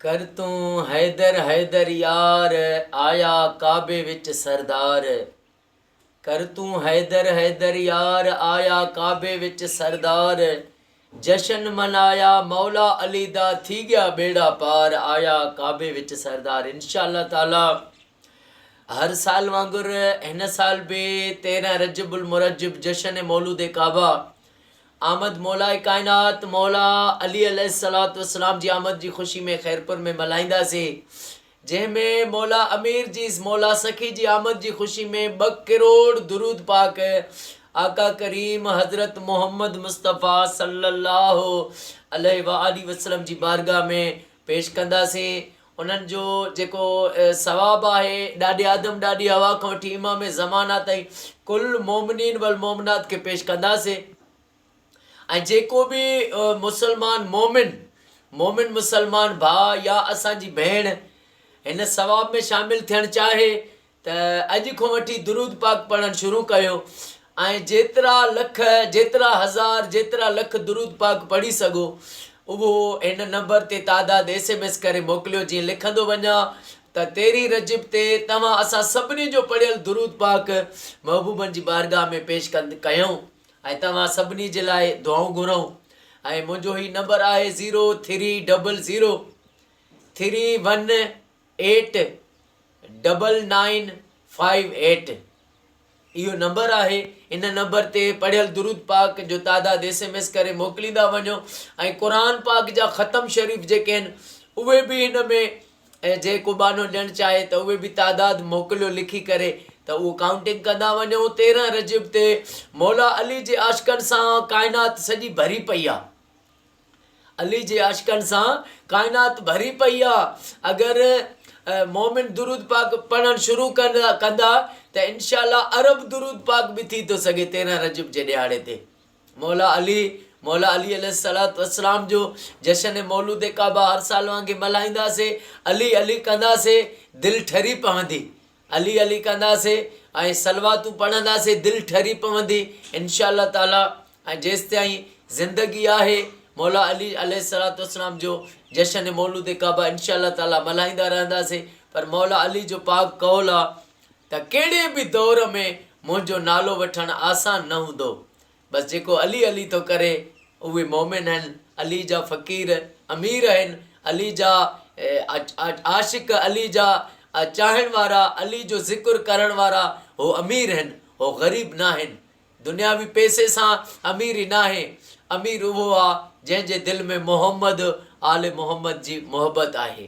ڪر تون حيدر حيدر يار، آيا ڪعبي وچ سردار. ڪر تون حيدر حيدر يار، آيا ڪعبي وچ سردار. جشن منايا مولا علي دا، ٿي ڳيا ٻيڙا پار. آيا ڪعبي وچ سردار انشاء الله تعالي هر سال وانگر هن سال به تيرهن رجب المرجب جشن مولود ڪعبه آمد مولاء ڪائنات مولا علي عليه الصلات والسلام جي آمد جي خوشي ۾ خيرپور ۾ ملهائينداسي جنهن ۾ مولا امير جي مولا سخي جي آمد جي خوشي ۾ ٻه ڪروڙ درود پاڪ آقا ڪريم حضرت محمد مصطفي صلي الله عليه واٰله وسلم جي بارگاھ ۾ پيش ڪنداسين انهن جو جيڪو ثواب آهي، ڏاڏي آدم، ڏاڏي حوا کان وٺي امام زمان آ تائين ڪل مؤمنين والمؤمنات کي پيش ڪنداسين ۽ جيڪو به مسلمان مؤمن، مؤمن مسلمان ڀاء يا اسان جي ڀيڻ هن ثواب ۾ شامل ٿيڻ چاهي ته اڄ کان وٺي درود پاڪ پڙهڻ شروع ڪيو ۽ جيترا لک جيترا هزار جيترا لک درود پاڪ پڙهي سگهو اهو هن نمبر تي تعداد ايس ايم ايس ڪري موڪليو جيئن لکندو وڃان ته تيرهين رجب تي توهان اسان سڀني جو پڙهيل درود پاڪ محبوبن جي بارگاهه ۾ پيش ڪند ڪيون ۽ توهان سڀني جي لاء دعائون گهرون ۽ منهنجو هي نمبر آهي zero three double zero three one eight double nine five eight اهو نمبر آهي ان نمبر تي پڙهيل درود پاڪ جو تعداد ايس ايم ايس ڪري موڪليندا وڃو ۽ قرآن پاڪ جا ختم شريف جيڪي آهن اهي به ان ۾ ۽ جي ڪو ٻانهو ڏيڻ چاهي ته اهي به تعداد موڪليو لکي ڪري ته اهو ڪائونٽنگ ڪندا وڃو تيرهن رجب تي مولا علي جي عاشقن سان ڪائنات سڄي ڀري پئي آهي علي جي عاشقن سان ڪائنات ڀري پئي آ اگر مومن درود پاڪ پڙهڻ شروع ڪندا ته انشاء الله عرب درود پاڪ به ٿي ٿو سگهي تيرهن رجب جي ڏهاڙي تي مولا علي مولا علي عليه الصلوة والسلام جو جشن مولود ڪعبه هر سال وانگي ملهائينداسي علي علي ڪنداسي دل ٺري پوندي علي علي ڪنداسين ۽ صلواتون پڙهنداسين دل ٺري پوندي انشاء الله تعالي ۽ جيستائين زندگي آهي مولا علي عليه الصلوة والسلام جو جشن مولود ڪعبه انشاء الله تعالي ملهائيندا رهنداسين پر مولا علي جو پاڪ قول آ ته ڪهڙي به دور ۾ منهنجو نالو وٺڻ آسان نه هوندو بس جيڪو علي علي ٿو ڪري اهي مؤمن هن علي جا فقير امير هن علي جا عاشق علي جا چاهڻ وارا علي جو ذڪر ڪرڻ وارا هو امير هن هو غريب ناهن دنياوي پئسي سان اميري ناهي امير اهو آ جنهن جي دل ۾ محمد آل محمد جي محبت آهي.